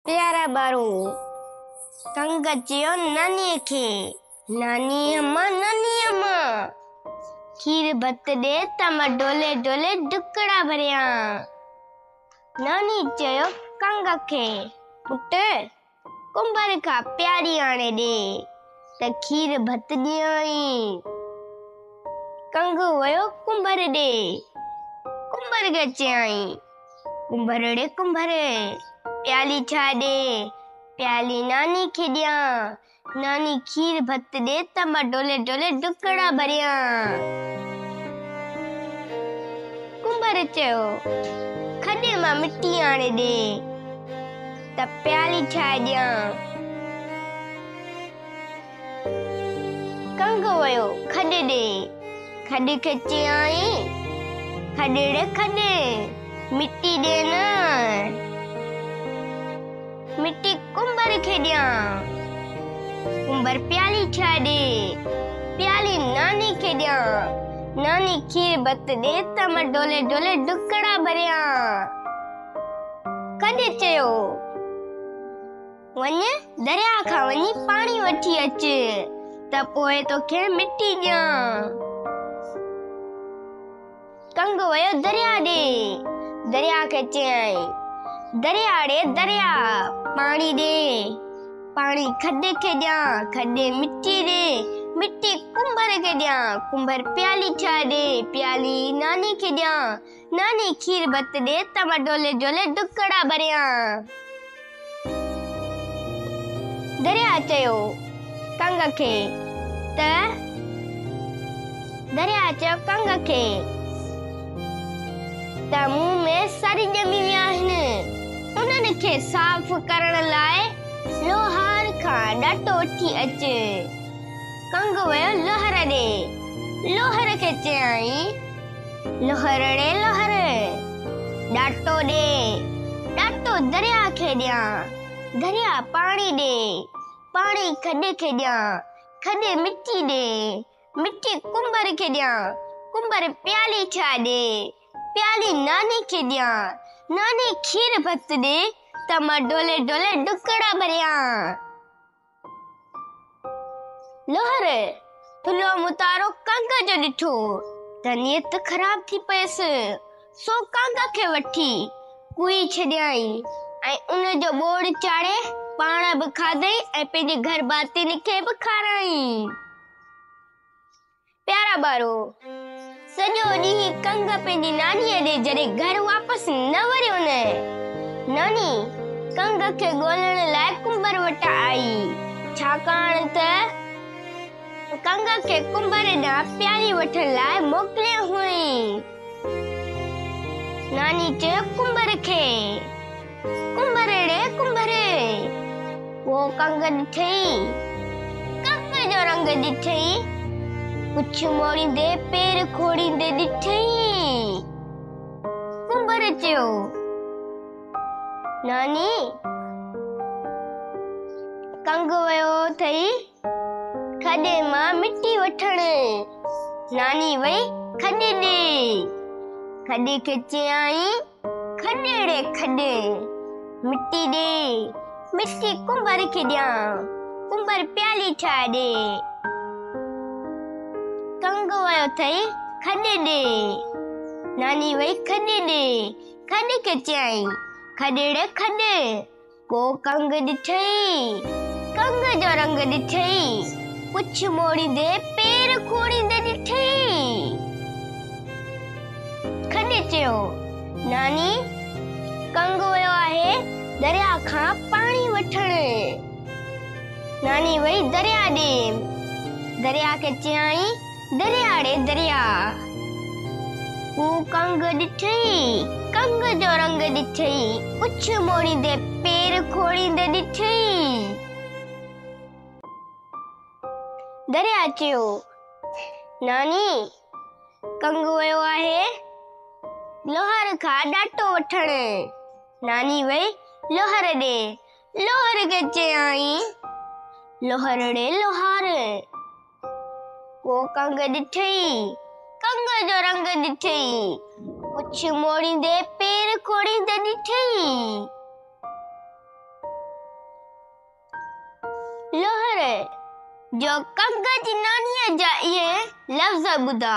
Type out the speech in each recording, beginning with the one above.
پيارا ٻارو! ڪنگ چيو نانيء کي، ناني اما، ناني اما! کير ڀت ڏي ته مان ڊولي ڊولي ڊڪڙا ڀريان. نانيء چيو ڪنگ کي، پٽ! ڪنڀر کان پياڙي آڻي ڏي ته کير ڀت ڏيانء. ڪنگ ويو ڪنڀر ڏي. ڪنڀر کي چيائين، ڪنڀرڙي ڪنڀر پيالي ڇا ڏي پيالي ناني کي ڏيان ناني کير ڀت ڏي ته مان ڊولي ڊولي ڊڪڙا ڀريان ڪنڀر چيو کڏي مان مٽي آڻي ڏي ته پيالي ڇا ڏيان کنگهه ويو کڏ ڏي، کڏ کي چيائين، کڏڙ کڏ، مٽي ڏي نه، مٽي ڪنڀر کي ڏيان، ڪنڀر پيالي ٺاهي ڏي، پيالي ناني کي ڏيان، ناني کير ڀت ڏي ته مان ڍولي ڍولي ڍڪڙا ڀريان. کڏ چيو. وڃ درياء کان وڃي پاڻي وٺي اچ ته پوء توکي مٽي ڏيان ڪنگ ويو درياء ڏي درياء کي چيائين درياء ڙي درياء پاڻي ڏي پاڻي کڏي کي ڏيان کڏي مٽي ڏي مٽي ڪنڀر کي ڏيان ڪنڀر پيالي ٺاهي ڏي پيالي ناني کي ڏيان ناني کير ڀت ڏي ته مان ڊولي ڊولي ڊڪڙا ڀريان. درياء چيو ڪنگ کي ته درياء چيو ڪنگ کي ته مون ۾ سر ڄمي ويا آهن. انهن کي صاف ڪرڻ لاء لوهار کان ڏٽو وٺي اچ. کنگهه ويو لوهر ڏي، لوهر کي چيائين، لوهرڙي لوهر! ڏاٽو ڏي، ڏاٽو درياء کي ڏيان، درياء پاڻي ڏي، پاڻي کڏ کي ڏيان، کڏ مٽي ڏي، مٽي ڪنڀر کي ڏيان، ڪنڀر پيالي ٺاهي ڏي، پيالي ناني کي ڏيان، ناني کير ڀت ڏي ته مان ڍولي ڍولي ڍڪڙا ڀريان. لوهر ٿلهو متارو ڪنگ جو ڏٺو ته نيت خراب ٿي پيس سو ڪنگ کي وٺي ڪوئي ڇڏيائين ۽ ان جو ٻوڙ چاڙهي پاڻ به کاڌئي ۽ پنهنجي گهر ڀاتين کي به کارائين پيارا ٻارو! سڄو ڏينهن ڪنگ پنهنجي نانيء ڏي جڏهن گهر واپس نه وريو نه ناني ڪنگ کي ڳولڻ لاء ڪنڀر وٽ آئي ڇاڪاڻ ته ڪنگ کي ڪنڀر ڏانهن پياري وٺڻ لاء موڪليو هئائين. ناني چيو ڪنڀر کي ڪنڀر ڙي ڪنڀر ڪو ڪنگ ڏٺئي ڪنڀ جو رنگ ڏٺئي پڇ موڙيندي پير کوڙيندي ڏٺئي ڪنڀر چيو ناني ڪنگ ويو اٿئي کڏي مان مٽي وٺڻ ناني وئي کڏي ڏي کڏي کي چيائين کڏيڙي کڏي مٽي ڏي مٽي ڪنڀر کي ڏيان ڪنڀر پيالي ٺاهي ڏي کنگ ويو اٿئي کڏي ڏي ناني وئي کڏي ڏي کڏي کي چيائين کڏيڙي کڏي ڪو ڪنگ ڏٺئي ڪنگ جو رنگ ڏٺئي پڇ موڙيندي پير کوڙيندي ڏٺئي کڏي چيو ناني ڪنگ ويو آهي دريا کان پاڻي وٺڻ ناني وئي دريا ڏي دريا کي چيائين درياء ڙي درياء هو ڪنگ ڏٺئي ڪنگ جو رنگ ڏٺئي پڇ موڙيندي پير کوڙيندي ڏٺئي درياء چيو ناني ڪنگ ويو آهي لوهر کان ڏاٽو وٺڻ ناني وئي لوهر ڏي لوهر کي چيائين لوهر ڙي لوهار ڪو ڪنگ ڏٺئي، ڪنگ جو رنگ ڏٺئي، مڇ موڙيندي پير کوڙيندي ڏٺئي. لوهري جو ڪنگ جي نانيء جا اهي لفظ ٻڌا،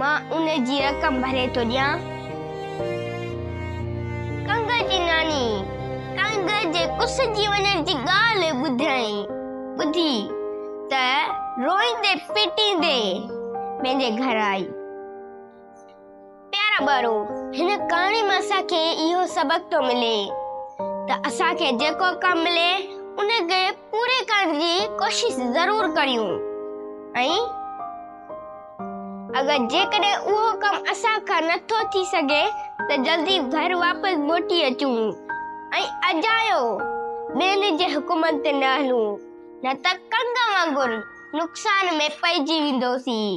مان ان جي رقم ڀري ٿو ڏيان. ڪنگهه جي ناني ڪنگهه جي ڪسجي وڃڻ جي ڳالهه ٻڌيائين. ٻڌي ته روئيندي پيٽيندي پنهنجي گهر آئي. پيارا ٻارو، هن ڪهاڻي مان اسان کي اهو سبق ٿو ملي ته اسان کي جيڪو ڪم ملي ان کي پوري ڪرڻ جي ڪوشش ضرور ڪريون ۽ اگر جيڪڏهن اهو ڪم اسان کان نه ٿو ٿي سگهي ته جلدي گهر واپس موٽي اچون ۽ اجايو ٻين جي حڪمن تي نه هلون نه ته ڪنگ وانگر نقصان ۾ پئجي ويندوسين.